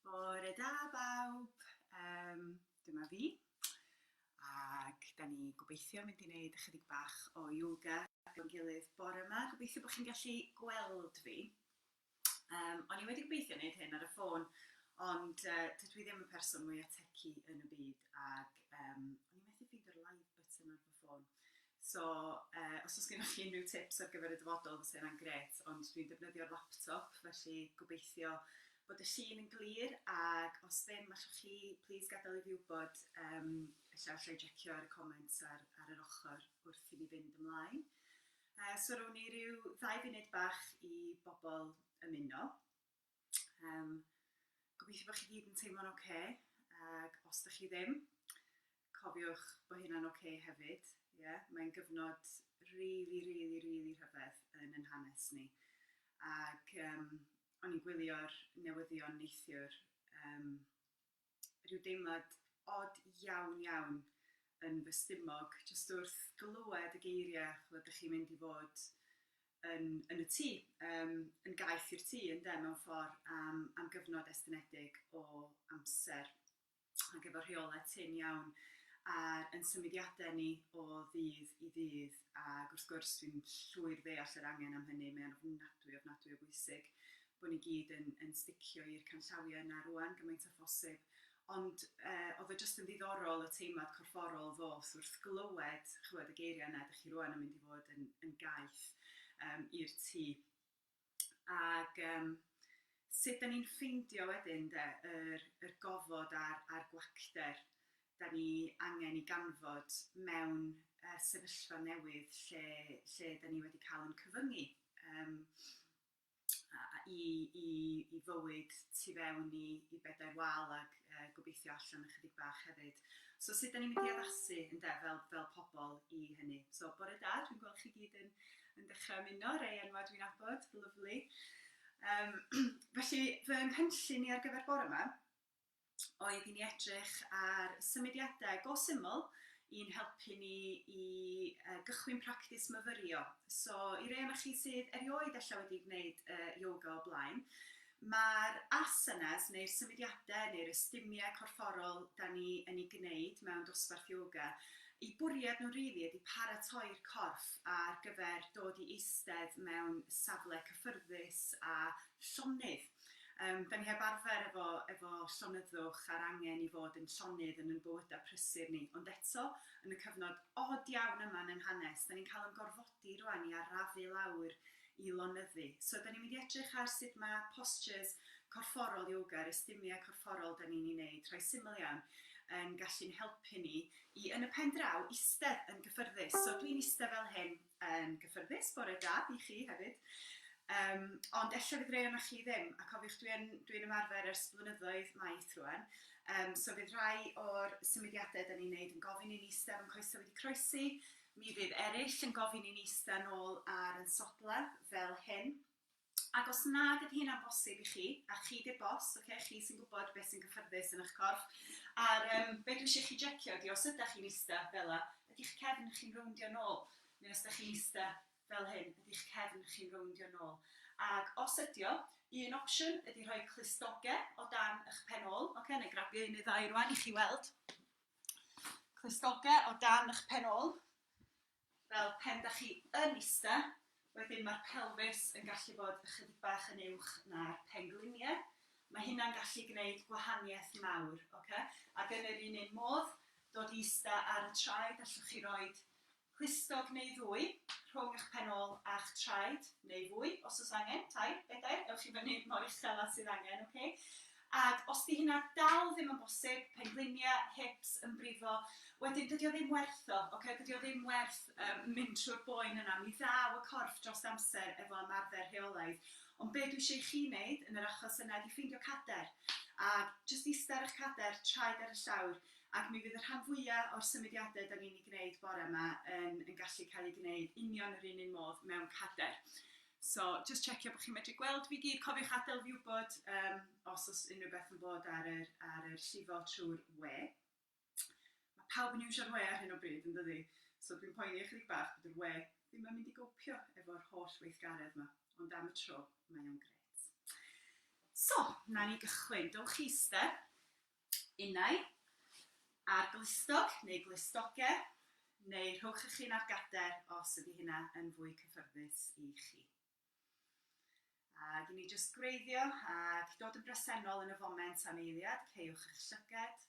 Bore da bawb, um, dyma fi, ac da ni gobeithio mynd i wneud ychydig bach o yoga gyda'n gilydd bore yma. Gobeithio bod chi'n gallu gweld fi. Um, o'n i wedi gobeithio wneud hyn ar y ffôn, ond uh, dydw i ddim y person mwyaf tecu yn y byd, ac um, o'n i methu ffeindio'r live button ar fy ffôn. So yy os oes gennych chi unrhyw tips ar gyfer y dyfodol fysa hynna'n grêt, ond dwi'n defnyddio'r laptop felly gobeithio bod y llun yn glir ac os ddim allwch chi plîs gadael i fi wybod yym ella alla i jecio ar y comments ar ar yr ochr wrth i ni fynd ymlaen. Yy so rown ni ryw ddau funud bach i bobl ymuno. Um, gobeithio bod chi gyd yn teimlo'n oce, okay, ac os da chi ddim, cofiwch bod hynna'n oce okay hefyd. Yeah? Mae'n gyfnod really, really, really rhyfedd yn yn hanes ni. Ac um, o'n i'n gwylio'r newyddion neithiwr um, rhyw deimlad od iawn iawn yn fy stumog jyst wrth glywed y geiriau ch'mod 'dych chi'n mynd i fod yn yn y tŷ yym yn gaeth i'r tŷ ynde mewn ffordd am am gyfnod estynedig o amser ac efo rheolau tynn iawn ar yn symudiadau ni o ddydd i ddydd ac wrth gwrs dwi'n llwyr ddeall yr angen am hynny mae o'n ofnadwy ofnadwy o bwysig bod ni gyd yn yn sticio i'r canllawiau yna rŵan gymaint â phosib. Ond yy oedd o jyst yn ddiddorol y teimlad corfforol ddoth wrth glywed ch'wod y geiriau yna 'dych chi rŵan yn mynd i fod yn yn gaeth yym i'r tŷ. Ag yym sut 'dan ni'n ffeindio wedyn 'de yr yr gofod a'r a'r gwacter 'dan ni angen 'i ganfod mewn yy sefyllfa newydd lle lle 'dan ni wedi ca'l 'yn cyfyngu yym. i, i, i fywyd tu fewn i, i bedair wal ac uh, gobeithio allan ychydig bach hefyd. So sut da ni'n mynd i addasu yn de, fel, fel pobl i hynny. So bore da, dwi'n gweld chi gyd yn, yn dechrau ymuno, rei enwa dwi'n abod, lyflu. Um, felly, fy nghynllun i ar gyfer bore yma, oedd i ni edrych ar symudiadau go syml i'n helpu ni i uh, gychwyn practis myfyrio. So, i rei o'na chi sydd erioed allan wedi gwneud uh, yoga o blaen, mae'r asanas neu'r symudiadau neu'r ystumiau corfforol da ni yn ei gwneud mewn dosbarth yoga, i bwriad nhw rili ydy paratoi'r corff ar gyfer dod i eistedd mewn safle cyffyrddus a llonydd. Yym, da ni heb arfer efo efo llonyddwch a'r angen i fod yn llonydd yn yn bywyda prysur ni, ond eto, yn y cyfnod od iawn yma yn yn hanes, da ni'n cael yn gorfodi rwan i arafu lawr i lonyddu. So, da ni'n mynd i edrych ar sut mae postures corfforol yoga, yr ystumia corfforol da ni'n ei neud, rhai syml iawn, yn gallu'n helpu ni i, yn y pen draw, istedd yn gyffyrddus. So, dwi'n istedd fel hyn, yn gyffyrddus, bore da i chi hefyd. Um, ond ella fydd rei o'na chi ddim, a cofiwch dwi'n dwi, dwi ymarfer ers blynyddoedd maith rwan, um, so fydd rhai o'r symudiadau da ni'n neud yn gofyn i'n eistedd yn coesau wedi croesi, mi fydd eraill yn gofyn i'n eistedd nôl ar yn sodla fel hyn, Ac os nad ydy hynna'n bosib i chi, a chi 'di'r boss, ocê, chi sy'n gwybod beth sy'n gyffyrddus yn eich corff, a'r yym be dwi isio i chi jecio ydy os ydach chi'n ista fel 'na, ydy'ch cefn chi'n rowndio nôl? Neu os dach chi'n ista fel hyn, ydy'ch cefn chi'n rowndio nôl? Ac os ydy o, un opsiwn ydy rhoi clustoge o dan eich pen ôl, ocê, nai grabio un neu ddau rwan i chi weld. Clustoge o dan eich pen ôl. Fel pen dach chi yn ista, wedyn mae'r pelfis yn gallu bod ychydig bach yn uwch na'r penglinie. Mae hynna'n gallu gwneud gwahaniaeth mawr, ok? Ac yn yr un un modd, dod i ista ar y traed, allwch chi roid clustog neu ddwy rhwng ych pen ôl a'ch traed, neu fwy os oes angen, tair, bedair, ewch i fyny mor uchel â sydd angen, ok? Ac os 'di hynna dal ddim yn bosib, penglinia, hips, ymbrifo, wedyn dydi o ddim werth o, ocê, dydi o ddim werth yym mynd trwy'r boen yna. Mi ddaw y corff drost amser efo ymarfer rheolaidd. Ond be' dwi isio i chi neud yn yr achos yna ydi ffeindio cader, a jyst ista ar 'ych cader, traed ar y llawr, ac mi fydd y rhan fwya' o'r symudiade 'dan ni'n 'u gneud bore 'ma yn yn gallu cael eu gneud union yr un un modd mewn cader. So, just checio bod chi'n medru gweld fi gyd. Cofiwch adael fi wybod um, os oes unrhyw beth yn bod ar yr, ar yr llifo trwy'r we. Mae pawb yn iwsio'r we ar hyn o bryd, yn dydy? So dwi'n poeni ychydig bach bod yr we ddim yn mynd i gopio efo'r holl weithgaredd yma. Ond am y tro, mae o'n gret. So, na ni gychwyn. Dowch i eistedd. innau, a'r glustog neu glustoge, neu rhowch y chyn ar gader os ydy hynna yn fwy cyffyrddus i chi. Ac i ni jyst gwreiddio ac dod yn bresennol yn y foment am eiliad, ceiwch eich llyged,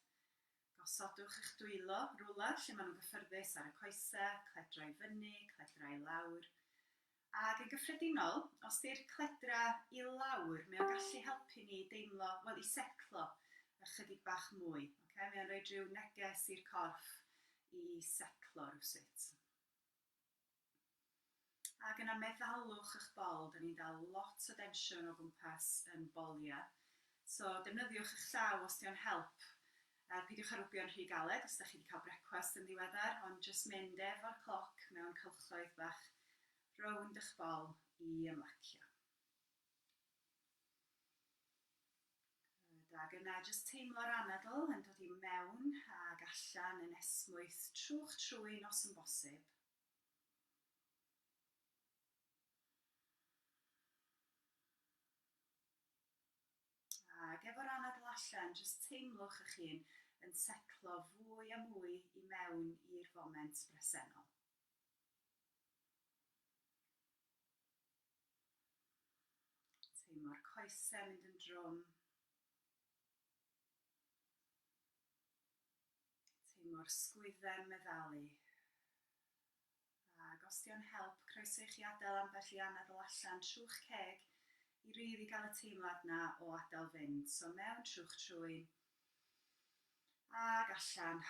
gosodwch eich dwylo rwla lle maen nhw'n gyffyrddus ar y coesau, cledrau fyny, cledrau lawr, Ac yn gyffredinol, os di'r cledra i lawr, mae o'n gallu helpu ni i deimlo, wel i setlo ychydig bach mwy. Okay? Mae o'n rhoi rhyw neges i'r corff i setlo rhywsut. Ac yna meddalwch eich bol, da ni'n dal lot o densiwn o gwmpas yn boliau. So defnyddiwch eich llaw os di o'n help A peidiwch â rwbio'n rhy galed os dach chi 'di cael brecwast yn ddiweddar, ond jyst mynd efo'r cloc mewn cylchgraith bach rownd y'ch bol i ymlacio. Good, ag yna jyst teimlo'r anadl yn dod i mewn ag allan yn esmwyth trw'ch trwyn os yn bosib. Ac efo'r anadl allan, jyst teimlwch eich hun yn setlo fwy a mwy i mewn i'r foment bresennol. Teimlo'r coesau mynd yn drwm. Teimlo'r sgwydden meddalu. A gostio'n help, croeso i chi adael ambell i anadl allan trw'ch ceg i rili gael y teimlad 'na o adael fynd. So mewn trw'ch trwyn, ac allan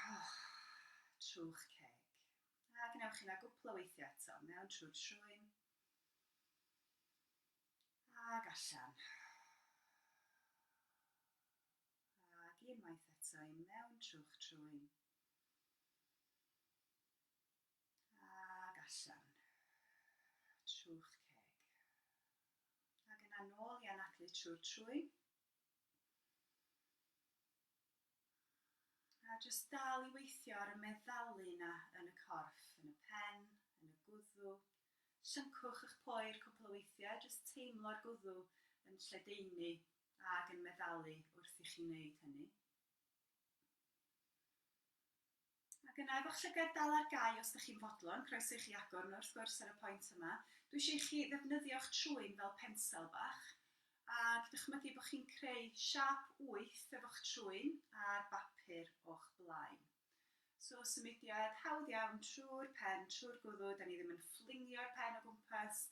trw'ch ceg. A gwnewch hynna gwpl o weithiau eto, mewn trwy'r trwyn, ac allan. Ac unwaith eto, i mewn trw'ch trwyn, Ac allan. Trw'ch ceg. Ac yna nôl i anadlu trwy'r trwyn. A jyst dal i weithio ar y meddalu yna yn y corff, yn y pen, yn y gwddw. Llyncwch eich poer cwpl o weithiau, jyst teimlo'r gwddw yn lledaenu ac yn meddalu wrth i chi wneud hynny. Ac yna efo'ch llygad dal ar gau os dych chi'n fodlon, croeso i chi agor nhw wrth gwrs ar y pwynt yma. Dwi eisiau i chi ddefnyddio'ch trwyn fel pensel bach, ac dychmygu bod chi'n creu siâp wyth efo'ch trwyn ar bapur o'ch blaen. So, symudiad hawdd iawn trwy'r pen, trwy'r gwddw, da ni ddim yn fflingio'r pen o gwmpas,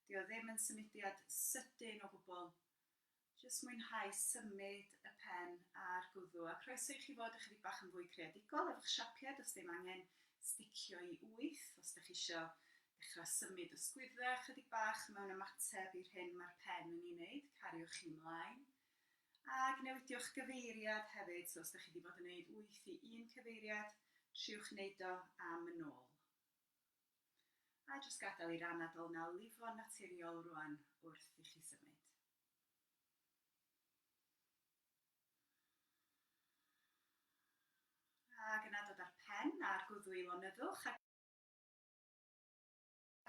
dio ddim yn symudiad sydyn o gwbl, Jyst mwynhau symud y pen a'r gwddw, a croeso i chi fod ychydig bach yn fwy creadigol efo'ch siapiad os ddim angen sticio i wyth, os dych chi isio dechrau symud y sgwydda ychydig bach mewn ymateb i'r hyn mae'r pen yn ei wneud, cariwch chi ymlaen. Ag newidiwch gyfeiriad hefyd, so os dych chi wedi bod yn gwneud wyth i un cyfeiriad, triwch wneud o am yn ôl. A jyst gadael i'r anadl 'na lifo'n naturiol rwan wrth i chi symud. Ac yna dod â'r pen a'r gwddw i lonyddwch a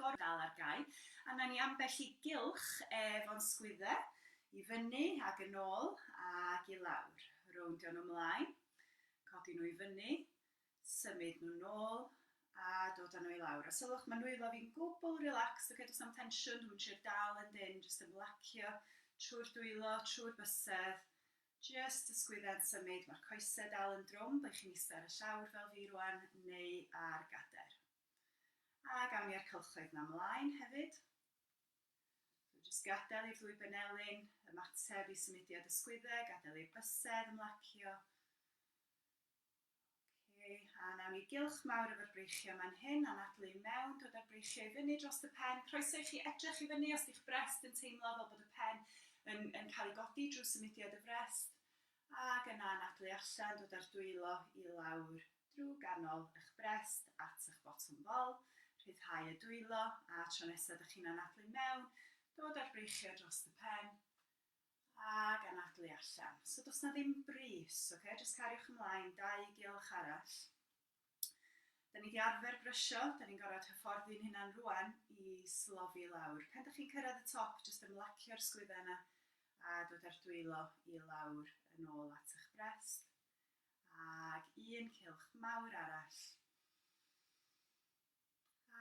gorwedd dal ar gau. A wna i ni ambell i gylch ef o'n sgwydde, i fyny ac yn ôl ac i lawr. Rowndio nhw 'mlaen, codi nhw i fyny, symud nhw nôl a dod a nhw i lawr. A sylwch, mae nwylo fi'n gwbl relaxed, okay, does am tensiwn, dwi'n trio dal yn dyn, jyst ymlacio trwy'r dwylo, trwy'r bysedd, jyst y sgwydde'n symud, mae'r coesau dal yn drwm, byddwch chi'n eistedd ar y llawr fel fi rwan, neu ar gader. A gawn ni ar cylchoedd yma mlaen hefyd. So jyst gadael i'r ddwy benelin ymateb i symudiad y sgwyddau, gadael i'r bysedd ymlacio, Oce, a nawn ni gylch mawr efo'r breichiau man hyn, anadlu i mewn, dod â'r breichiau i fyny drost y pen, croeso i chi edrych i fyny os 'di'ch brest yn teimlo fel bod y pen yn yn cael ei godi drwy symudiad y frest, ac yna anadlu allan, dod â'r dwylo i lawr drwy ganol y'ch brest at y'ch botwm bol, rhyddhau y dwylo, a tro nesa 'dych chi'n anadlu mewn, dod â'r breichiau drost y pen, Ag anadlu allan. So does 'na ddim brys, ocê? Jyst cariwch ymlaen, dau giolch arall. Da ni wedi arfer brysio, da ni'n gorfod hyfforddi'n hunan rwan i slofi lawr. Pen da chi'n cyrraedd y top, jyst ymlacio'r sgwydda yna a dod â'r dwylo i lawr yn ôl at eich brest. Ag un cilch mawr arall.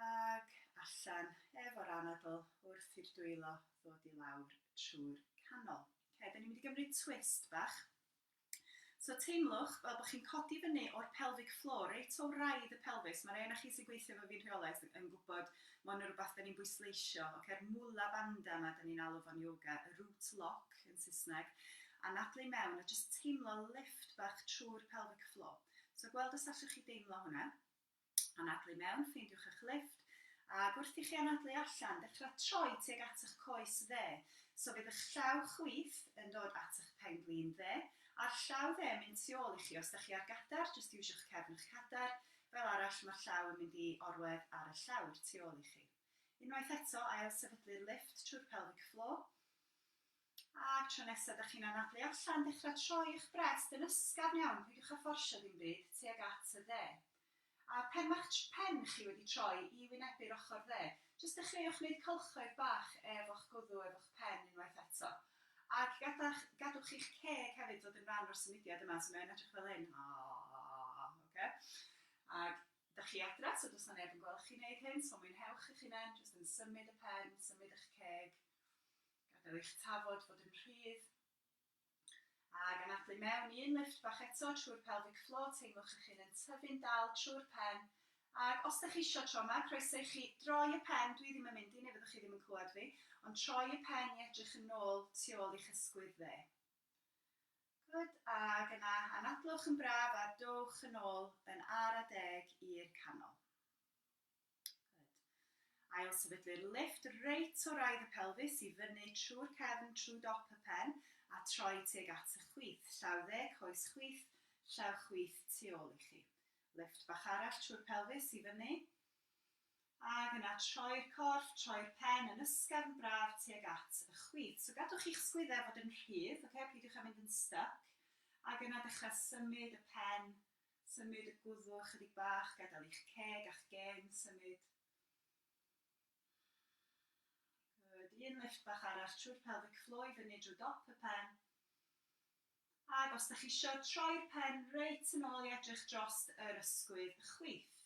ac allan efo'r anadl wrth i'r dwylo ddod i lawr trwy'r canol. Okay, da ni'n mynd i gymryd twist bach. So teimlwch fel bod chi'n codi fyny o'r pelvic floor, reit o wraidd y pelfis. Mae rhai na chi sy'n gweithio efo fi'n rheolaidd yn gwybod mae hwn yn rhywbeth da ni'n bwysleisio. Okay, er mula banda yma, da ni'n alw fo'n yoga, y root lock yn Saesneg, a nadlu mewn a just teimlo lift bach trwy'r pelvic floor. So gweld os allwch chi deimlo hwnna. Anadlu mewn, ffeindiwch eich lifft, ac wrth i chi anadlu allan, dechrau troi tuag at eich coes dde. So fydd eich llaw chwith yn dod at eich pen-glin dde, a'r llaw dde yn mynd tu ôl i chi. Os da chi ar gadair, jyst iwsio'ch cefn a'ch cadair, fel arall, mae'r llaw yn mynd i orwedd ar y llawr tu ôl i chi. Unwaith eto, ail-sefydlu'r lifft trwy'r pelvic floor. A tro nesa dych chi'n anadlu allan, dechra troi y'ch brest yn ysgafn iawn, peidiwch â fforsio ddim byd, tuag at y dde. A phen ma'ch pen chi wedi troi i wynebu'r ochr dde, jyst dechreuwch neud cylchoedd bach efo'ch gwddw, efo'ch pen unwaith eto. Ac gada'ch, gadwch i'ch ceg hefyd fod yn ran o'r symudiad yma, so mae o'n edrych fel hyn, aahh, oce? Ac dych chi adra, so does 'na neb yn gweld chi neud hyn, so mwynhewch eich hunen, jyst yn symud y pen, symud y'ch ceg, Gadael i'ch tafod fod yn rhydd. Ag anadlu mewn un lifft bach eto trwy'r pelvic floor, teimlwch eich hun yn tyfu'n dal trwy'r pen, ag os dych chi isio tro yma, croeso i chi droi y pen, dwi ddim yn mynd i neu fyddwch chi ddim yn clywed fi, ond troi y pen i edrych yn ôl tu ôl i'ch ysgwydd dde. Good, ag yna anadlwch yn braf a dowch yn ôl yn ara deg i'r canol. Ail sefydlu'r lifft reit o raidd y pelfis i fyny trwy'r cefn trwy dop y pen a troi tuag at y chwith, llaw dde, coes chwith, llaw chwith tu ôl i chi. Lifft bach arall trwy'r pelfis i fyny ac yna troi'r corff, troi'r pen yn ysgafn braf tuag at y chwith. So gadwch i'ch sgwyddau fod yn rhydd, okay? peidiwch â mynd yn styc, ac yna dechrau symud y pen Symud y gwddw ychydig bach, gadael i'ch ceg a'ch gên symud. Good, un lift bach arall trwy'r pelvic floor i fyny drwy dop y pen. Ac os da chi isio, troi'r pen reit yn ôl i edrych drost yr ysgwydd chwith.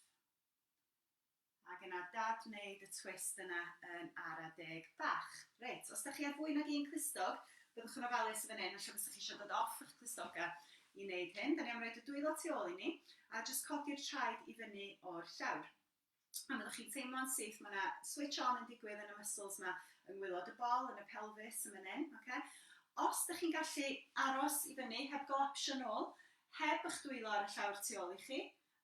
Ac yna Dad wneud y twist yna yn ara deg bach. Reit, os dach chi ar fwy nag un clustog, byddwch yn ofalus yn fan hyn, ella fysa chi eisiau dod off eich clustoga i wneud hyn. Dan ni am roid y dwylo tu ôl i ni, a jyst codi'r traed i fyny o'r llawr. A fyddwch chi'n teimlo'n syth, mae yna switch on yn digwydd yn y muscles yma yng ngwaelod y bol, yn y pelfis, yn fan hyn, ocê? Os dach chi'n gallu aros i fyny heb golapsio'n ôl, heb eich dwylo ar y llawr tu ôl i chi,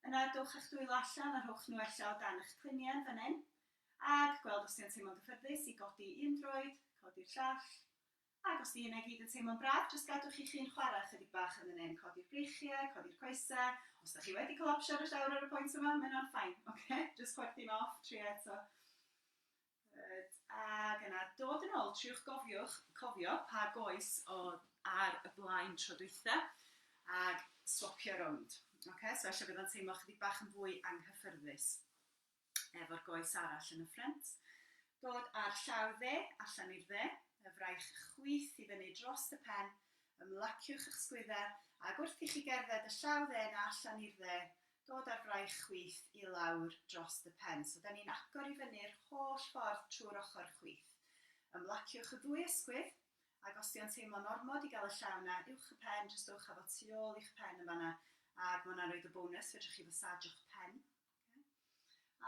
Yna dowch â'ch dwylo allan a rhowch nhw ella o dan eich pliniau fan hyn, ac gweld os 'di o'n teimlo'n gyffyrddus i godi un droed, codi'r llall, ac os 'di hynna i gyd yn teimlo'n braf, jyst gadwch i'ch hun chwarae chydig bach yn fan hyn, codi'r breichiau, codi'r coesau, os 'da chi wedi colapsio yn y llawr ar y pwynt yma, mae hynna'n fine, ocê, jyst chwerthin off, tria eto. Good. Ac yna, dod yn ôl, triwch gofiwch, cofio pa goes oedd ar y blaen tro dwytha, ac swapio rownd. Okay? So eisiau bydd o'n teimlo chydig bach yn fwy anghyffyrddus efo'r goes arall yn y ffrent. Dod ar llaw dde, allan i'r dde, y fraich chwith i fyny dros y pen, ymlaciwch eich sgwydda, ac wrth i chi gerdded y llaw dde na allan i'r dde, dod â'r fraich chwith i lawr dros y pen. So 'da ni'n agor i fyny'r holl ffordd trwy'r ochr chwith. Ymlaciwch y ddwy ysgwydd, ac os 'di o'n teimlo'n ormod i gael y llaw 'na uwch y pen, jyst dowch â fo tu ôl i'ch pen yn fan'na, ac ma' hwnna'n roid y bonws, fedrwch chi fasajio'ch pen.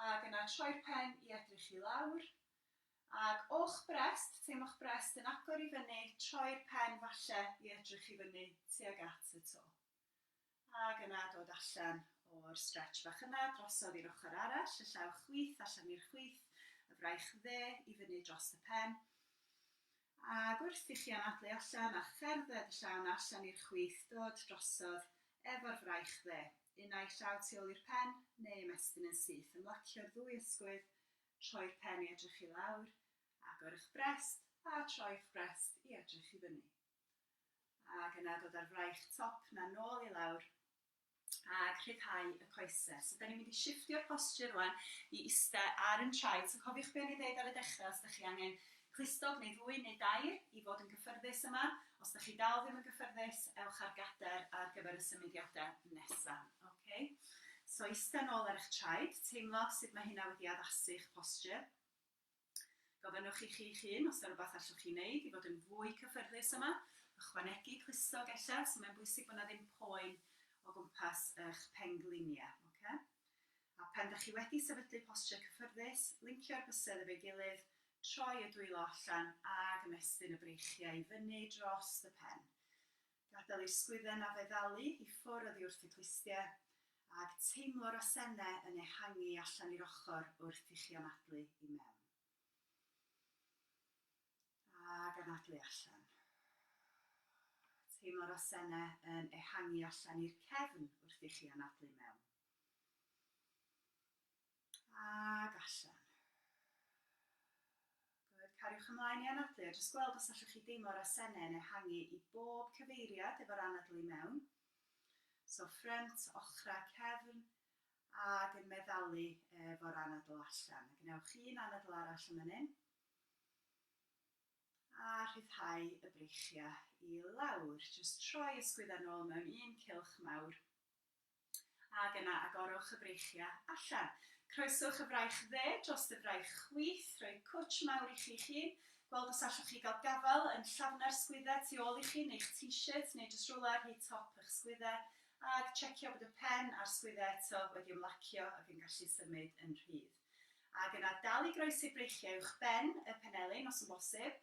Ac yna troi'r pen i edrych i lawr, ac o'ch brest, teimlo'ch brest yn agor i fyny, troi'r pen falle i edrych i fyny tuag at y to. Ac yna dod allan o'r stretch bach yna, drosodd i'r ochr arall, y llaw chwith allan i'r chwith, y fraich dde i fyny drost y pen. Ac wrth i chi anadlu allan a cherdded y llaw 'na allan i'r chwith, dod drosodd efo'r fraich dde. Unai llaw tu ôl i'r pen, neu ymestyn yn syth. Ymlacio'r ddwy ysgwydd, troi'r pen i edrych i lawr, agor 'ych brest, a troi'ch brest i edrych i fyny. Ac yna dod â'r fraich top 'na nôl i lawr ac rhyddhau y coesau. So da ni'n mynd i shifftio'r posture rwan i ista ar yn traed. So cofiwch be o'n i'n ddeud ar y dechrau, os da chi angen clustog neu ddwy neu dair i fod yn gyffyrddus yma. Os da chi dal ddim yn gyffyrddus, ewch ar gadair ar gyfer y symudiadau nesa. Ok? So ista nôl ar eich traed, teimlo sut mae hynna wedi addasu'ch posture. Gofynnwch i chi'ch hun os 'na rywbeth allwch chi wneud i fod yn fwy cyffyrddus yma, ychwanegu clustog ella, so mae'n bwysig bod 'na ddim poen o gwmpas y'ch pengliniau, ocê? A phan 'dach chi wedi sefydlu postiau cyffyrddus, lincio'r bysedd efo'i gilydd, troi y dwylo allan ag ymestyn y breichiau i fyny drost y pen. Gadael ei sgwydden a feddalu i ffwr oddi wrth y twistie, ag teimlo'r asenne yn ehangu allan i'r ochor wrth i chi anadlu i mewn. Ag anadlu allan. Teimlo'r asenne yn ehangu allan i'r cefn wrth i chi anadlu i mewn. Ac allan. Good, cariwch ymlaen i anadlu a jyst gweld os allwch chi deimlo'r asennau'n ehangu i bob cyfeiriad efo'r anadl i mewn. So ffrynt, ochrau, cefn, ac yn meddalu efo'r anadl allan. A gwnewch un anadl arall yn fan hyn. A rhyddhau y breichiau i lawr. Jyst troi ysgwyddau'n ôl mewn un cylch mawr. Ac yna agorwch y freichiau allan. Croeswch y fraich dde dros y fraich chwith, rhoi cwtsh mawr i chi'ch hun, gweld os allwch chi gael gafael yn llafnau'r sgwydde tu ôl i chi neu'ch t-shirt neu jyst rywle ar hyd top y'ch sgwydde, ag tsiecio bod y pen a'r sgwydde eto wedi ymlacio ac yn gallu symud yn rhydd. Ac yna dal i groesi breichiau uwch ben y penelin os yn bosib,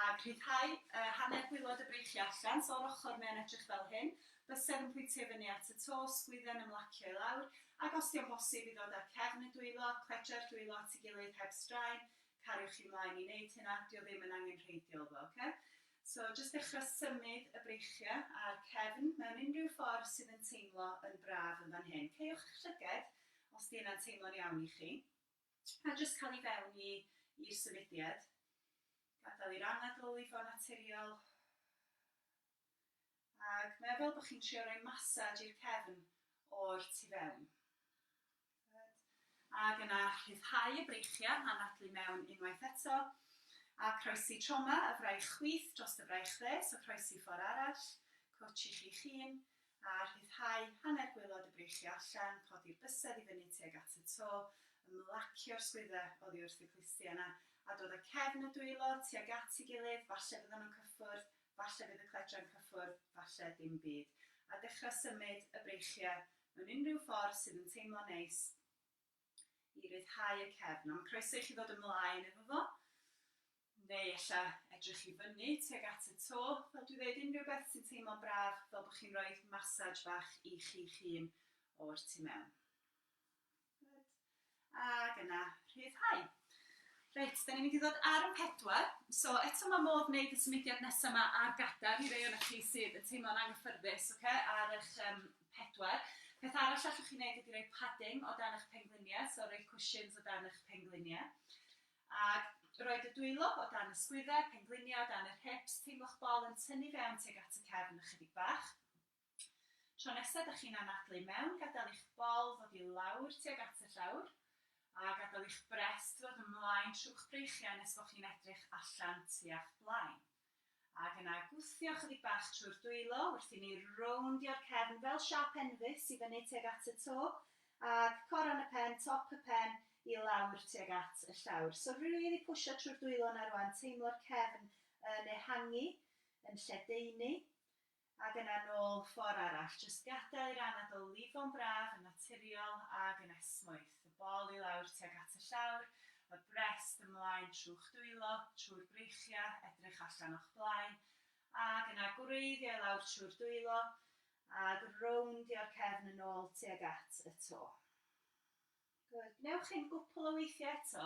ac rhyddhau hanner gwaelod y breichiau allan, so o'r ochr mae o'n edrych fel hyn, bysedd yn pwyntio i fyny at y to, sgwydden yn mlacio i lawr, ac os 'di o'n bosib i ddod â'r cefn yn dwylo, cledra'r dwylo at ei gilydd heb straen, cariwch chi mlaen i neud hynna, 'di o ddim yn angenrheidiol iddo fo, oce? So jyst dechra symud y breichiau a'r cefn mewn unrhyw ffordd sydd yn teimlo yn braf yn fan hyn. Caewch eich llyged, Os 'di hynna'n teimlo'n iawn i chi. A jyst cael i fewn i i'r symudiad. Gadael i'r anadl i fo'n naturiol. Ac mae o fel bod chi'n trio rhoi massage i'r cefn o'r tu fewn. Good. Ac yna rhyddhau y breichiau, anadlu mewn unwaith eto. A croesi trauma y fraich chwith dros dy fraich dde, so croesi ffordd arall. Coach i chi'ch hun. a rhyddhau hanner gwaelod y breichiau allan, codi'r bysedd i fyny tuag at y to, ymlacio'r sgwyddau oddi wrth y clustiau 'na, a dod â cefn y dwylo tuag at ei gilydd, falle fyddan nhw'n cyffwrdd, falle fydd y cledra'n cyffwrdd, falle dim byd, a dechrau symud y breichiau mewn unrhyw ffordd sydd yn teimlo neis, i ryddhau y cefn. A mae'n croeso i chi ddod ymlaen efo fo, neu ella edrych i fyny tuag at y to. Fel dwi ddeud, unrhyw beth sy'n teimlo'n braf, fel bod chi'n rhoi massage bach i chi'ch hun o'r tu mewn. Good. Ac yna, rhyddhau. Reit, da ni'n mynd i ddod ar y pedwar. So, eto mae modd wneud y symudiad nesaf yma ar gadair i rei o'na chi sydd yn teimlo'n anghyffyrddus, okay? ar eich um, 4. Peth arall allwch chi wneud ydy rhoi padding o dan eich pengliniau, so rhoi cwshins o dan eich pengliniau. Ac roed y dwylo o dan y sgwyddau, pengliniau o dan yr hips, teimlo'ch bol yn tynnu fewn tuag at y cefn ychydig bach. Tro nesaf da chi'n anadlu i mewn, gadael i'ch bol ddod i lawr tuag at y llawr, a gadael i'ch brest ddod ymlaen trwy'ch breichiau nes bod chi'n edrych allan tua'ch blaen. Ac yna gwthio chydig bach trwy'r dwylo wrth i ni rowndio'r cefn fel siâp enfys i fyny tuag at y to, ac coron y pen, top y pen, i lawr tuag at y llawr. So rili pwsio trwy'r dwylo yna rwan, teimlo'r cefn yn ehangu, yn lledaenu. Ag yna nôl ffor arall. Jyst gadai'r anad o lifo'n braf, yn naturiol ag yn esmwyth. Y bol i lawr tuag at y llawr, y brest ymlaen trw'ch dwylo, trwy'r breichiau, edrych allan o'ch blaen, ag yna gwreiddio i lawr trwy'r dwylo, ag rownd i o'r cefn yn ôl tuag at y to. Good. Wnewch hyn gwpl o weithiau eto.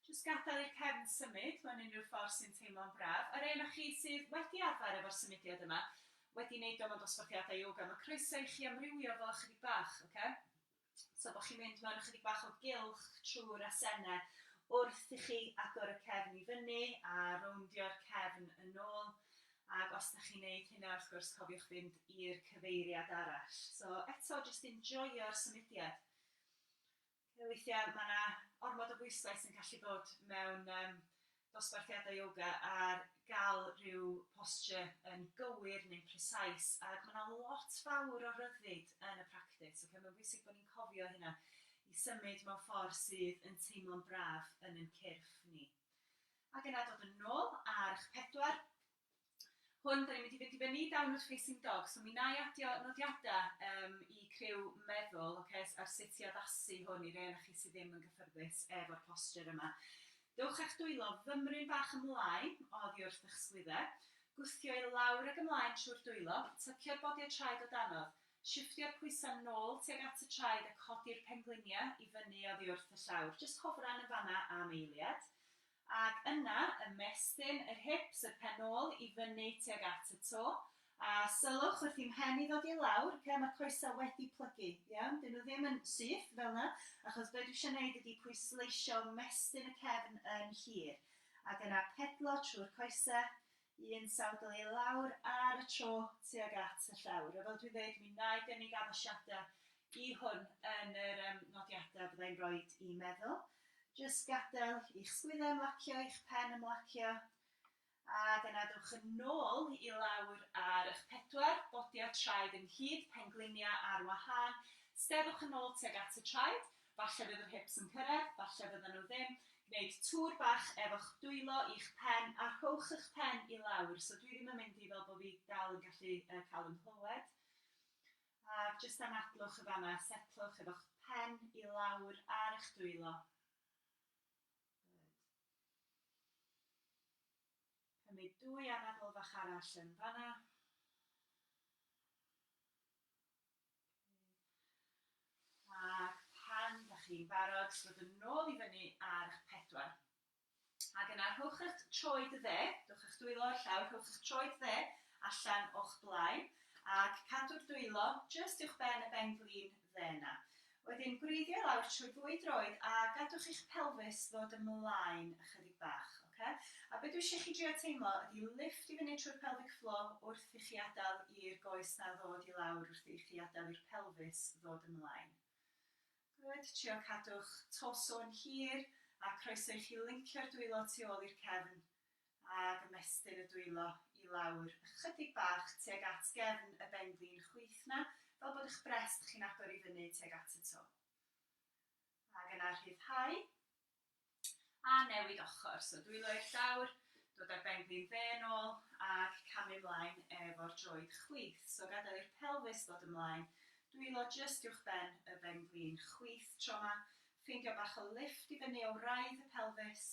Jyst gadael i'r cefn symud mewn unrhyw ffordd sy'n teimlo'n braf. A'r rhei onoch chi sydd wedi arfer efo'r symudiad yma, wedi neud o mewn dosbarthiadau yoga, mae croeso i chi amrywio fo ychydig bach, oce? So bod chi'n mynd mewn ychydig bach o gylch trwy'r asennau wrth i chi agor y cefn i fyny a rowndio'r cefn yn ôl. Ac os da chi'n neud hynna, wrth gwrs, cofiwch fynd i'r cyfeiriad arall. So eto, jyst enjoio'r symudiad. Weithiau mae yna ormod o bwyslais sy'n gallu bod mewn dosbarthiadau yoga ar gael rhyw posture yn gywir neu'n precise ac mae yna lot fawr o ryddid yn y practis, ocê, mae'n bwysig bod ni'n cofio hynna, i symud mewn ffordd sydd yn teimlo'n braf yn ein cyrff ni. Ac yna dod yn ôl ar eich pedwar, hwn, 'da ni'n mynd i fynd i fyny downward facing dog, so mi wna i adio nodiadau um, i criw meddwl okay, ar sut i addasu hwn i rei o'na chi sydd ddim yn gyffyrddus efo'r posture yma. Dewch a'ch dwylo fymryn bach ymlaen oddi wrth eich sgwydde, gwthio i lawr ag ymlaen trwy'r dwylo, tycio'r bodiau traed o danodd, shiftio'r pwysau nôl tuag at y traed a codi'r pengliniau i fyny oddi wrth y llawr, jyst hofran yn fanna am eiliad. Ac yna ymestyn yr hips, y pen-ôl, i fyny tuag at y to, a sylwch wrth i'm mhen i ddod i lawr, oce, mae'r coesau wedi plygu, iawn, 'dyn nhw ddim yn syth fel 'na, achos be' dwi isio 'neud ydi pwysleisio mestyn y cefn yn hir, ac yna pedlo trwy'r coesau, Un sawdl i lawr ar y tro tuag at y llawr. A fel dwi'n dweud, mi wna i gynnig addasiadau i hwn yn yr nodiadau fydda i'n rhoi i meddwl. Jyst gadael i'ch sgwyddau ymlacio, i'ch pen ymlacio, a dyna dewch yn ôl i lawr ar eich pedwar bodiau traed ynghyd, pengliniau ar wahân. Steddwch yn ôl tuag at y traed, Falle fydd yr hips yn cyrraedd, falle fyddan nhw ddim. Gwneud tŵr bach efo'ch dwylo i'ch pen a rhowch y'ch pen i lawr. So dwi ddim yn mynd i fel bod fi dal yn gallu cael yn nghlywed. A jyst anadlwch y fanna, setlwch efo'ch pen i lawr ar y'ch dwylo. Cymryd dwy anadl fach arall yn fanna. Ac pan da chi'n barod, dod yn nôl i fyny ar eich pedwar. Ac yna rhowch eich troed dde, dowch eich dwylo o'r llawr, rhowch eich troed dde allan o'ch blaen, ac cadw'r dwylo jyst uwch ben y ben flin dde yna. Wedyn gwreiddio i lawr trwy'r ddwy droed a gadwch i'ch pelfis ddod ymlaen ychydig bach, ocê? A be dwi isio chi drio teimlo ydi lifft i fyny trwy'r pelvic floor wrth i chi adael i'r goes 'na ddod i lawr wrth i chi adael i'r pelfis ddod ymlaen. Good, trio cadw'ch torso yn hir a croeso i chi lincio'r dwylo tu ôl i'r cefn a gymestir y dwylo i lawr ychydig bach tuag at gefn y benglin chwith 'na, fel bod 'ych brest chi'n agor i fyny tuag at y to. Ac yna rhyddhau, a newid ochr, so dwylo i'r llawr, dod â'r benglin dde yn ôl, ac camu 'mlaen efo'r droed chwith, so gadael i'r pelfis ddod ymlaen, dwylo jyst uwch ben y benglin chwith tro 'ma, ffeindio bach o lifft i fyny o wraidd y pelfis,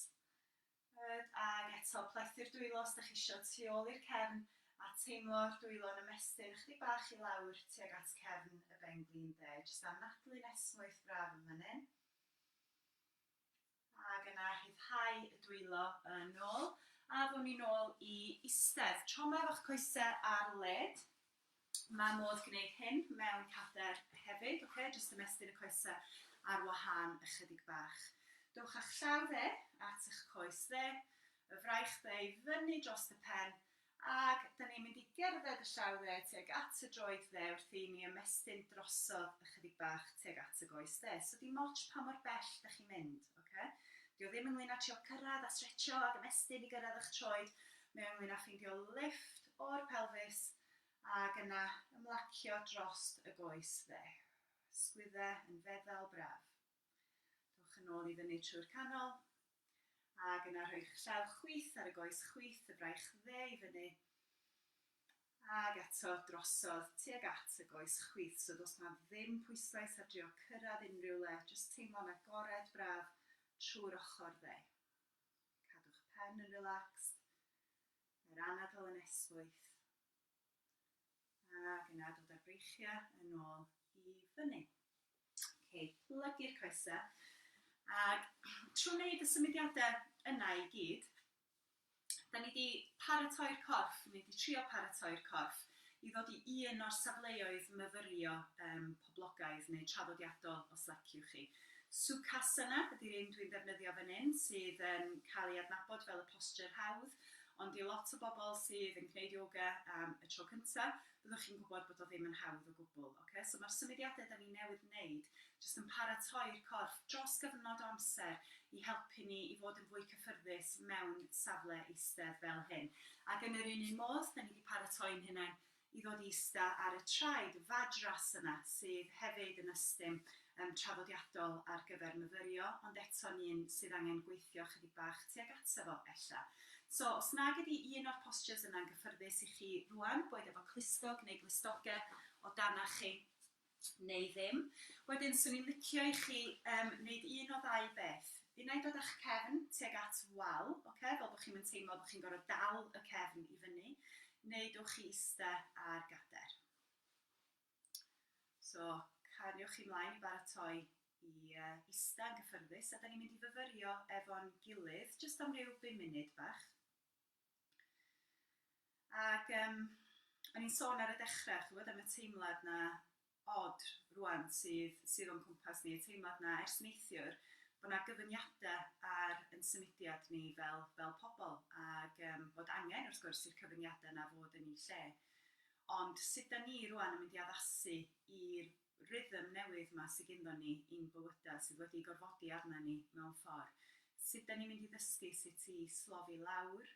Pryd ag eto, plethu'r dwylo os dych chi isio tu ôl i'r cefn a teimlo'r dwylo yn ymestyn ychydig bach i lawr tuag at cefn y benglin de, jyst anadlu'n esmwyth braf yn fan hyn. Ac yna rhyddhau y dwylo yn ôl a ddown ni nôl i istedd. Tro 'ma efo'ch coesau ar led. Mae modd gwneud hyn mewn pader hefyd, ok, jyst ymestyn y coesau ar wahân ychydig bach. Dowch â'ch llaw dde at eich coes dde, y fraich dde i fyny dros y pen, ac da ni'n mynd i gerdded y llaw dde tuag at y droed dde wrth i ni ymestyn drosodd ychydig bach tuag at y goes dde. So dim ots pa mor bell da chi'n mynd, ok? Dio ddim ynglyn â trio cyrraedd a stretchio ac ymestyn i gyrraedd eich troed, mae o ynglyn â ffeindio lifft o'r pelfis ac yna ymlacio drost y goes dde. Sgwydde yn feddal braf. Dowch yn ôl i fyny trwy'r canol ac yna rhoi'ch llaw chwith ar y goes chwith y braich dde i fyny ac eto drosodd tuag at y goes chwith. So does 'na ddim pwyslais ar drio cyrraedd unrhyw le, jyst teimlo'n agored braf trwy'r ochr dde. Cadw'ch pen yn relaxed, Mae'r anadl yn esbwyth ac yna dod â'r breichiau yn ôl i fyny. Ok, plygu'r coesau ac trwy wneud y symudiadau yna i gyd, da ni wedi paratoi'r corff, ni wedi trio paratoi'r corff i ddod i un o'r safleoedd myfyrio poblogaidd neu traddodiadol os leciwch chi. Sukhasana ydy'r un dwi'n defnyddio fan hyn sydd yn cael ei adnabod fel y posture hawdd ond i lot o bobl sydd yn gwneud yoga am y tro cyntaf byddwch chi'n gwybod bod o ddim yn hawdd o gwbl. Ocê, so mae'r symudiadau 'da ni newydd wneud jyst yn paratoi'r corff dros gyfnod o amser i helpu ni i fod yn fwy cyffyrddus mewn safle eistedd fel hyn. Ac yn yr un un modd, 'da ni 'di paratoi'n hunain i ddod i ista ar y traed, y fadras yna, sydd hefyd yn ystum yym traddodiadol ar gyfer myfyrio, ond eto'n un sydd angen gweithio chydig bach tuag ato fo, ella. So, os nag ydi un o'r postures yna'n gyffyrddus i chi rŵan, boed efo clustog neu glustoge o danach chi, neu ddim. Wedyn, swn i'n licio i chi yym neud un o ddau beth. Unai dod â'ch cefn tuag at wal, ocê, fel bod chi'm yn teimlo bod chi'n gorfod dal y cefn i fyny, neu dowch chi ista ar gader. So, cariwch chi mlaen i baratoi i ista yn gyffyrddus, a da ni'n mynd i fyfyrio efo'n gilydd, jyst am ryw bum munud bach. Ac yym, o'n i'n sôn ar y dechrau, ch'bod, am y teimlad 'na od rŵan sydd sydd o'n cwmpas ni, y teimlad 'na ers neithiwr, bod 'na gyfyngiadau ar ein symudiad ni fel fel pobl, ac yym bod angen, wrth gwrs, i'r cyfyngiadau 'na fod yn eu lle. Ond sut 'dan ni rŵan yn mynd i addasu i'r rhythm newydd 'ma sy gynddon ni i'n bywyda, sydd wedi gorfodi arna ni mewn ffor. Sut 'da ni'n mynd i ddysgu sut i slofi lawr,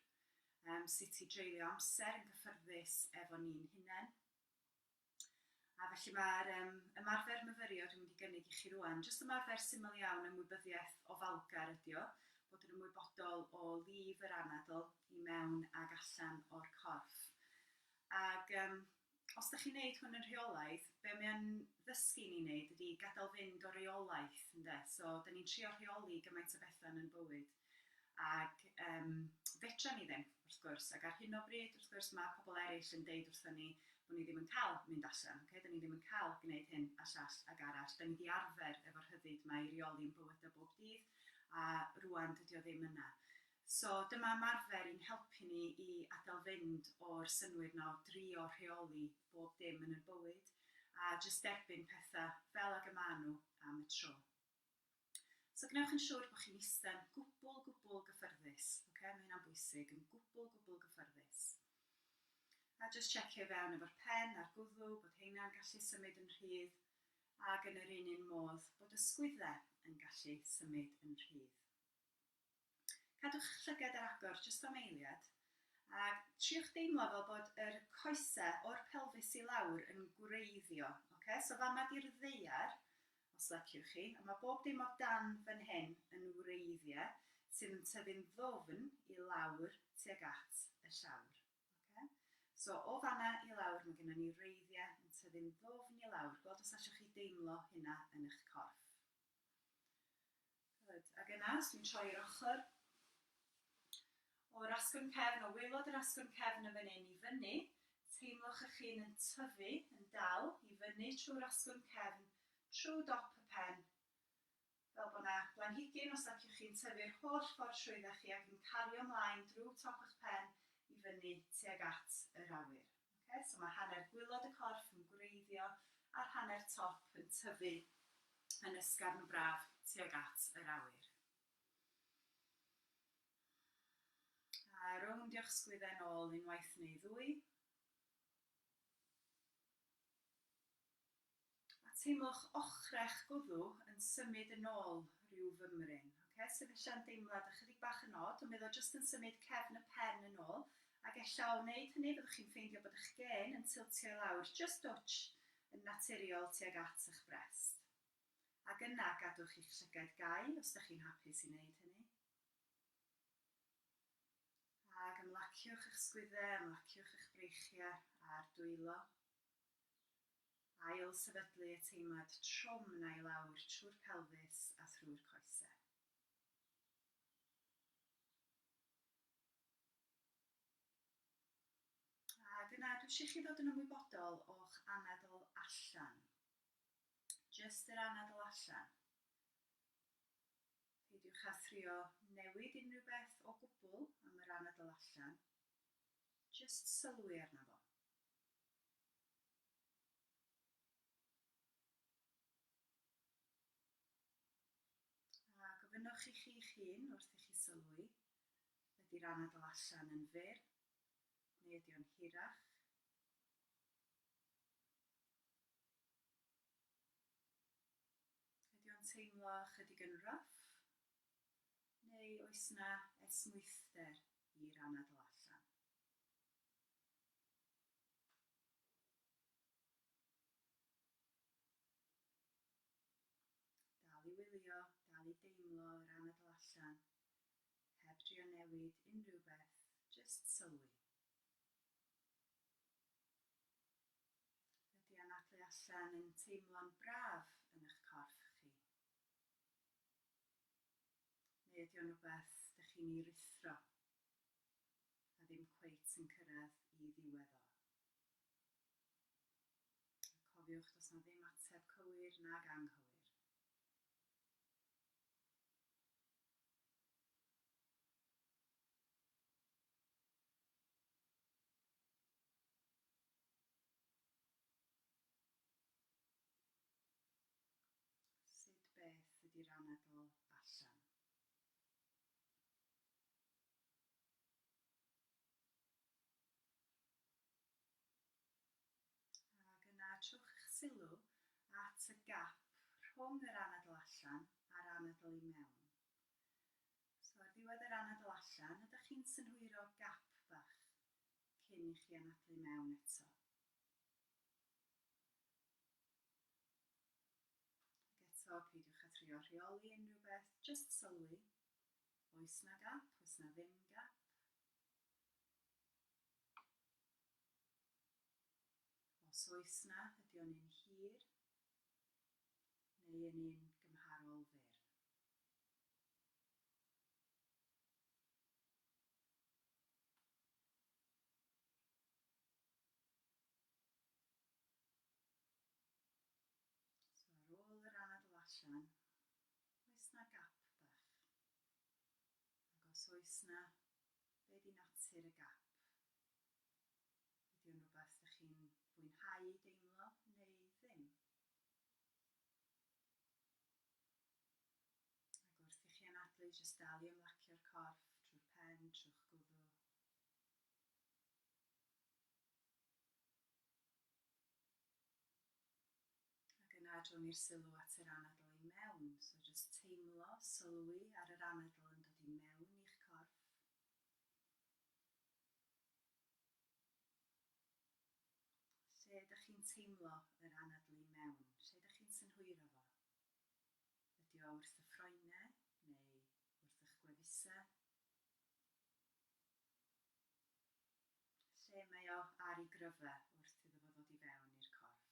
yym sut i dreulio amser yn gyffyrddus efo ni'n hunen. A felly ma'r yym ymarfer myfyrio dwi'n mynd i gynnig i chi rŵan, jyst ymarfer syml iawn ymwybyddiaeth ofalgar ydi o, bod yn ymwybodol o lif yr anadl i mewn ag allan o'r corff. Ag yym os dych chi'n neud hwn yn rheolaidd, be mae o'n ddysgu ni neud ydi gadael fynd o reolaeth ynde? So, da ni'n trio rheoli gymaint o betha yn yn bywyd. Ac um, fedra ni ddim, wrth gwrs. Ac ar hyn o bryd, wrth gwrs, mae pobl eraill yn deud wrthyn ni bod ni ddim yn cael mynd allan. Okay? Da ni ddim yn cael gwneud hyn a llall ag arall. Da ni wedi arfer efo'r rhyddid mae i reoli yn bywydau bob dydd, a rwan dydy o ddim yna. So dyma ymarfer i'n helpu ni i adael fynd o'r synnwyr 'na o drio rheoli bob dim yn 'yn bywyd a jyst derbyn petha fel ag y ma' nhw am y tro. So gwnewch yn siwr bo' chi'n ista'n gwbwl, gwbwl gyffyrddus, ocê, ma' hynna'n bwysig, yn gwbwl, gwbwl gyffyrddus. A jyst checio i fewn efo'r pen a'r gwddw bod heina'n gallu symud yn rhydd ag yn yr un un modd bod y sgwydde yn gallu symud yn rhydd. Cadwch llygad ar agor jyst am eiliad a triwch deimlo fel bod yr coese o'r pelfis i lawr yn gwreiddio. Oce, so fama di'r ddaear, os leciwch chi, a mae bob dim o dan fan hyn yn wreiddiau sydd yn tyfu'n ddwfn i lawr tuag at y llawr. Oce, so o fanna i lawr mae gennym ni wreiddiau yn tyfu'n ddwfn i lawr. Gweld os allwch chi deimlo hynna yn eich corff. Good. Ac yna, os dwi'n troi yr ochr o'r asgwrn cefn, o waelod yr asgwrn cefn yn fan hyn i fyny, teimlwch eich hun yn tyfu, yn dal, i fyny trwy'r asgwrn cefn, trwy dop y pen, fel bod yna blanhigyn, os liciwch chi, yn tyfu yr holl ffordd trwydda chi ac yn cario mlaen drwy top eich pen i fyny tuag at yr awyr. Oce, so mae hanner gwylod y corff yn gwreiddio a'r hanner top yn tyfu yn ysgafn braf tuag at yr awyr. A rowndiwch sgwydden ôl unwaith neu ddwy. A teimlwch ochrau'ch gwddw yn symud yn ôl rhyw fymryn. Ocê, so ella'n deimlad ychydig bach yn od, ond mi oedd o jyst yn symud cefn y pen yn ôl, ac ella o wneud hynny byddwch chi'n ffeindio bod eich gên yn tiltio i lawr jyst dwtsh yn naturiol tuag at eich brest. Ac yna, gadwch i'ch llygaid gau os dych chi'n hapus i wneud hynny. Ac ymlaciwch eich sgwyddau, ymlaciwch eich breichiau a'r dwylo. Ail-sefydlu y teimlad trwm 'na i lawr trwy'r pelfis a thrwy'r coesau. Ac yna dwi eisiau chi ddod yn ymwybodol o'ch anadl allan. Jyst yr anadl allan. Peidiwch â thrio newid unrhyw beth o gwbl am yr anadl allan. Jyst sylwi arno fo. A gofynnwch i chi'ch hun wrth i chi sylwi, ydy'r anadl allan yn fyr neu ydy o'n hirach? Ydy o'n teimlo ychydig yn rough? Neu oes 'na esmwythder i'r anadl allan? Dal i wylio, dal i deimlo yr anadl allan, heb drio newid unrhyw beth, jyst sylwi. Ydy anadlu allan yn teimlo'n braf yn eich corff chi? Neu ydy o'n rhywbeth dych chi'n ei ruthro? a ddim cweit yn cyrraedd i ddiwedd o. A cofiwch, does 'na ddim ateb cywir nag anghywir. Sut beth ydy'r anadl allan? Ac yna trowch eich sylw at y gap rhwng yr anadl allan a'r anadl i mewn. So ar ddiwedd yr anadl allan, ydych chi'n synhwyro gap bach cyn i chi anadlu mewn eto? Ac eto, peidiwch â trio rheoli unrhyw beth, jyst sylwi Oes 'na gap? Oes 'na ddim gap? Os oes 'na, ydy o'n un hir neu yn un gymharol fyr? So ar ôl yr anadl allan, Oes 'na gap bach? Ac os oes 'na, be' 'di natur y gap? Ydi o'n rwbath 'dych chi'n fwynhau deimlo neu ddim? Ac wrth i chi anadlu, jyst dal i ymlacio'r corff trwy'r pen, trw'ch gwddw. Ac yna adro'n ni'r sylw at yr anadl i mewn. So jyst teimlo, sylwi ar yr anadl yn dod i mewn i'ch corff. Lle ydych chi'n teimlo yr anadl i mewn? Lle ydych chi'n synhwyro fo? Ydy o wrth y ffroenau neu wrth eich gwefusau? lle mae o ar ei gryfa wrth iddo fo ddod i fewn i'r corff.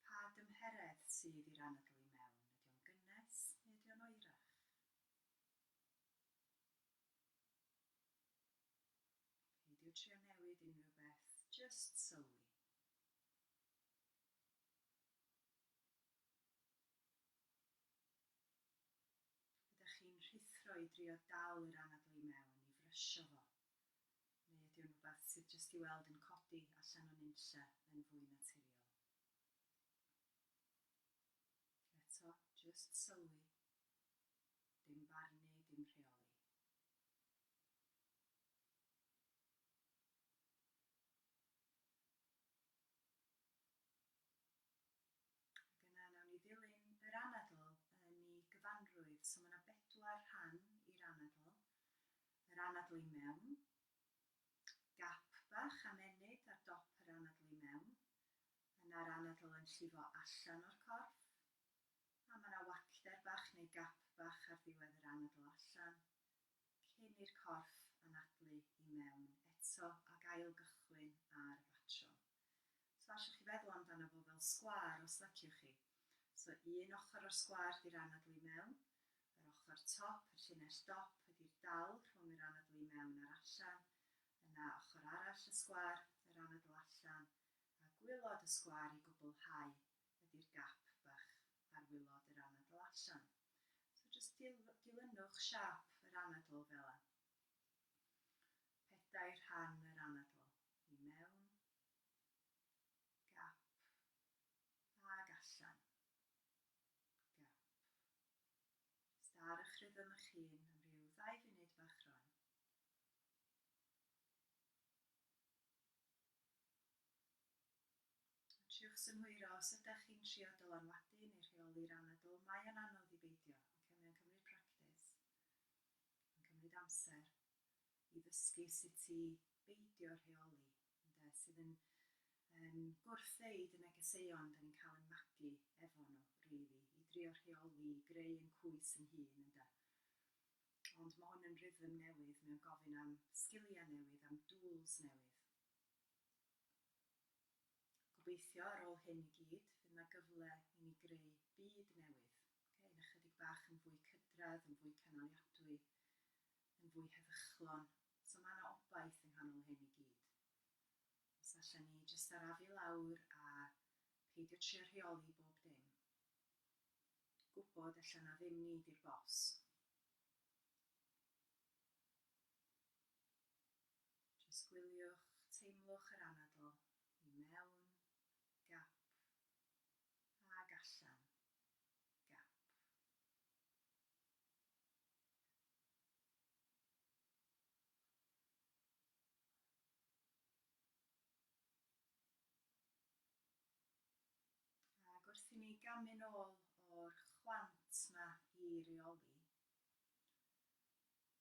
Pa dymheredd sydd i'r anadl i mewn? Ydy o'n gynnes neu ydy o'n oerach? Peidio trio newid unrhyw beth, just sylwi. Ydach chi'n rhuthro i drio dal yr anadl i mewn, i frysio fo? Neu ydy o'n rhywbeth sydd jyst i weld yn codi allan o nunlle yn fwy naturiol? Eto, jyst sylwi. Dim barnu, dim rheoli. Ac yna nawn ni ddilyn yr anadl yn ei gyfanrwydd. So ma' 'na bedwar rhan i'r anadl. Yr anadl i mewn, gap bach am ennyd ar dop yr anadl i mewn, yna'r anadl yn llifo allan o'r corff, a ma' 'na wacter bach neu gap bach ar ddiwedd yr anadl allan, cyn i'r corff anadlu i mewn eto ac ail-gychwyn ar y batrwm. So allwch chi feddwl amdano fo fel sgwâr os leciwch chi. So un ochr o'r sgwâr di'r anadl i mewn, yr ochr top, y llinell dop, ydi'r dal rhwng yr anadl i mewn a'r allan, yna ochr arall y sgwâr, yr anadl allan, a gwylod y sgwâr i gwblhau ydi'r gap bach ar wylod yr anadl allan. So jyst dilynwch siâp yr anadl fela. Pedair rhan yr anadl. i mewn gap ag allan gap. Jyst ar eich rhythm eich hun am ryw ddau funud bach rwan. Triwch synhwyro os ydych chi'n trio dylanwadu neu rheoli'r anadl. Mae o'n anodd i beidio, oce? Mae o'n cymryd practis. Mae'n cymryd amser. i ddysgu sut i beidio rheoli, ynde, sydd yn yn gwrthddweud y negeseuon 'dan ni'n cael ein magu efo nhw, rili, i drio rheoli, i greu ein cwys ein hun, ynde. Ond mae hwn yn rhythm newydd, mae o'n gofyn am sgiliau newydd, am dŵls newydd. Gobeithio, ar ôl hyn i gyd, fydd 'na gyfle i ni greu byd newydd, ocê, un ychydig bach yn fwy cydradd, yn fwy cynaliadwy, yn fwy heddychlon, so mae yna obaith yng nghanol hyn i gyd. Os allan ni jyst arafu lawr a peidio trio rheoli bob dim, gwybod allan na ddim ni di'r bos. Jyst gwyliwch, teimlwch yr anadl i mewn, gap, ag allan, gap. Ac wrth i ni gamu'n ôl o'r chwant 'ma i reoli,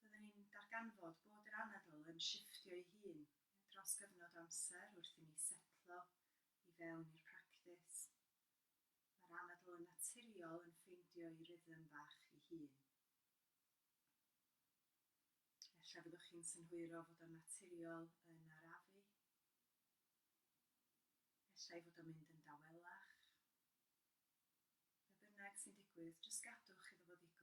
byddwn ni'n darganfod bod yr anadl yn shifftio'i hun dros gyfnod o amser wrth i ni setlo i fewn i'r practis. Mae'r anadl yn naturiol yn ffeindio ei rhythm bach ei hun. Efallai byddwch chi'n synhwyro fod o'n naturiol yn arafu. Efallai fod o'n mynd yn dawelach. Be bynnag sy'n digwydd, jyst gadwch iddo fo ddigwydd.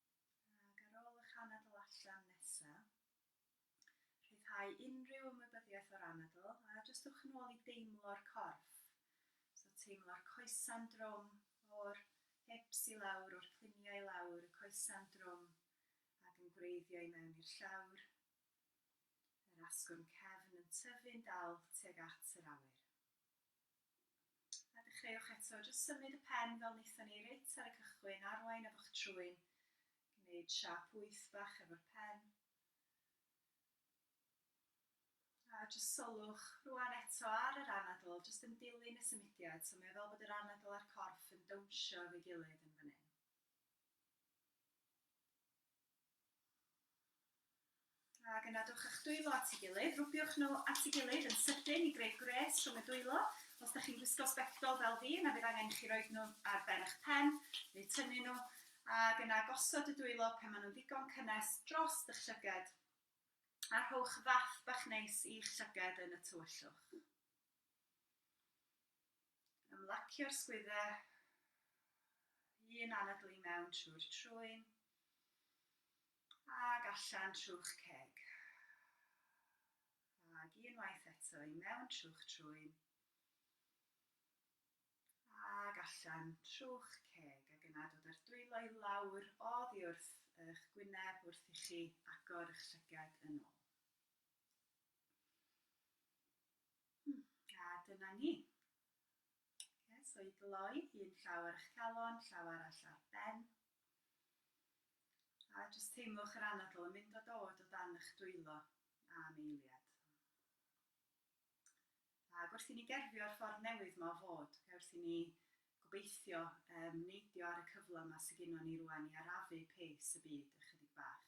ac ar ôl eich anadl allan nesa, rhyddhau unrhyw ymwybyddiaeth o'r anadl a jyst ewch yn ôl i deimlo'r corff. So teimlo'r coesau'n drwm o'r hips i lawr, o'r cliniau i lawr, y coesau'n drwm ac yn gwreiddio i mewn i'r llawr, yr asgwrn cefn yn tyfu'n dal tuag at yr awyr. A dechreuwch eto, jyst symud y pen fel wnaethon ni reit ar y cychwyn, arwain efo'ch trwyn, gwneud siâp wyth bach efo'r pen. A jyst sylwch rwan eto ar yr anadl, jyst yn dilyn y symudiad, so mae o fel bod yr anadl a'r corff yn dawnsio efo'i gilydd yn fan hyn. Ac yna dowch â'ch dwylo at ei gilydd. Rwbiwch nhw at ei gilydd yn sydyn i greu gwres rhwng y dwylo. Os dych chi'n gwisgo sbectol fel fi, yna bydd angen i chi roid nhw ar ben eich pen, neu tynnu nhw, ac yna gosod y dwylo, pan maen nhw'n ddigon cynnes, dros eich llyged, a rhowch fath bach neis i'ch llyged yn y tywyllwch. Ymlacio'r sgwyddau, un anadl i mewn trwy'r trwyn, ac allan trw'ch ceg. Ac unwaith eto i mewn trw'ch trwyn, ac allan trw'ch ceg. Ac yna dod â'r dwylo i lawr oddi wrth eich gwyneb wrth i chi agor eich llygad yn ôl. Hmm, a dyna ni. Okay, so i gloi, un llaw ar eich calon, llaw arall ar ben. A jyst teimlwch yr anadl yn mynd o dod o dan eich dwylo am eiliad. A wrth i ni gerfio'r ffordd newydd ma o fod, okay, wrth i ni gobeithio um, neidio ar y cyfle yma sydd gennym ni rwan i arafu pace y byd ychydig bach.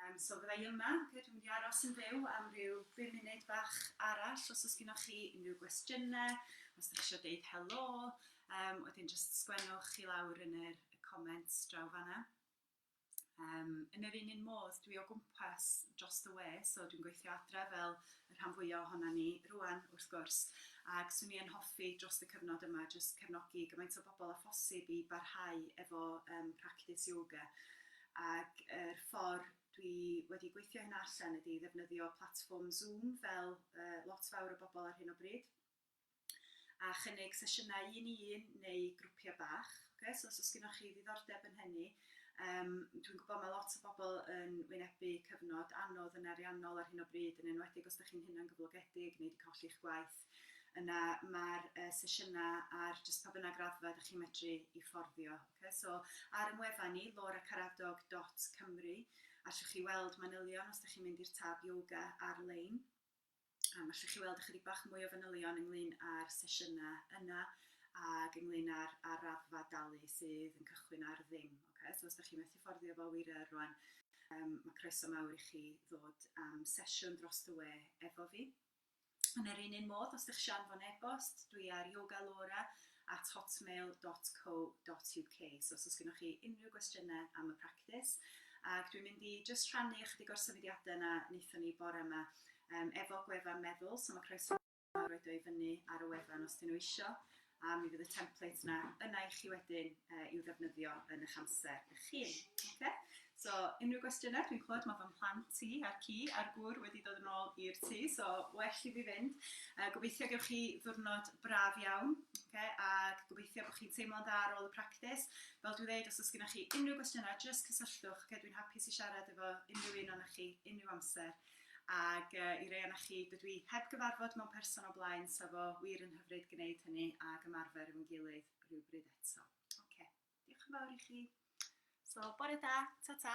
Yym so fydda i yma, oce, dwi'n mynd i aros yn fyw am ryw bum munud bach arall os oes gennoch chi unrhyw gwestiynau, os dach chi eisiau deud helo, um, wedyn jyst sgwennwch chi lawr yn yr y comments draw fanna. Um, yn yr un un modd, dwi o gwmpas dros y we, so dwi'n gweithio adre fel y rhan fwyaf ohona ni rwan, wrth gwrs, ac swn i yn hoffi dros y cyfnod yma jyst cefnogi gymaint o bobl a phosib i barhau efo um, practice yoga. Ac yr ffordd dwi wedi gweithio hynna allan ydi ddefnyddio platfform Zoom fel lot fawr o bobl ar hyn o bryd a chynnig sesiynau un i un neu grwpiau bach. Okay? So os oes gennych chi ddiddordeb yn hynny, um, dwi'n gwybod mae lot o bobl yn wynebu cyfnod anodd yn ariannol ar hyn o bryd, yn enwedig os ydych chi'n hunan gyflogedig neu wedi colli'ch gwaith. Yna mae'r sesiynau ar jyst pa bynnag raddfa ydych chi'n medru i fforddio. Ocê, so ar ein wefan ni, lauracaradog dot cymru, allwch chi weld manylion os ydych chi'n mynd i'r tab Yoga ar-lein. Yym allwch chi weld ychydig bach mwy o fanylion ynglyn â'r sesiynau yna ac ynglyn â'r, â'r raddfa dalu sydd yn cychwyn ar ddim. Ocê, so os ydych chi'n methu fforddio fo wir yr rwan, um, mae croeso mawr i chi ddod am sesiwn dros y we efo fi. Yn yr un un modd, os ydych eisiau anfon e-bost, dwi ar yogalaura at hotmail dot co dot uk. So os oes gennych chi unrhyw gwestiynau am y practis, ac dwi'n mynd i jyst rhannu ychydig o'r symudiadau yna wnaethon ni bore yma um, efo gwefan meddwl, so mae croeso mawr roed o i fyny ar y wefan os dyn nhw eisiau. a mi fydd y template yna yna i chi wedyn uh, i'w ddefnyddio yn eich amser eich hun. Okay? So, unrhyw gwestiynau, dwi'n clywed mae fy mhlant i a'r ci a'r gŵr wedi dod yn ôl i'r tŷ, so well i fi fynd. Uh, gobeithio gewch chi ddwrnod braf iawn, okay? a gobeithio bod chi'n teimlo'n dda ar ôl y practis. Fel dwi'n dweud, os oes gennych chi unrhyw gwestiynau, jyst cysylltwch, okay? dwi'n hapus i siarad efo unrhyw un o'n chi, unrhyw amser. Ac yy i rei o'na chi dydw i heb gyfarfod mewn person o blaen sa fo wir yn hyfryd gneud hynny ag ymarfer efo'n gilydd rhywbryd eto. Oce, diolch yn fawr i chi. So, bore da, ta-ta.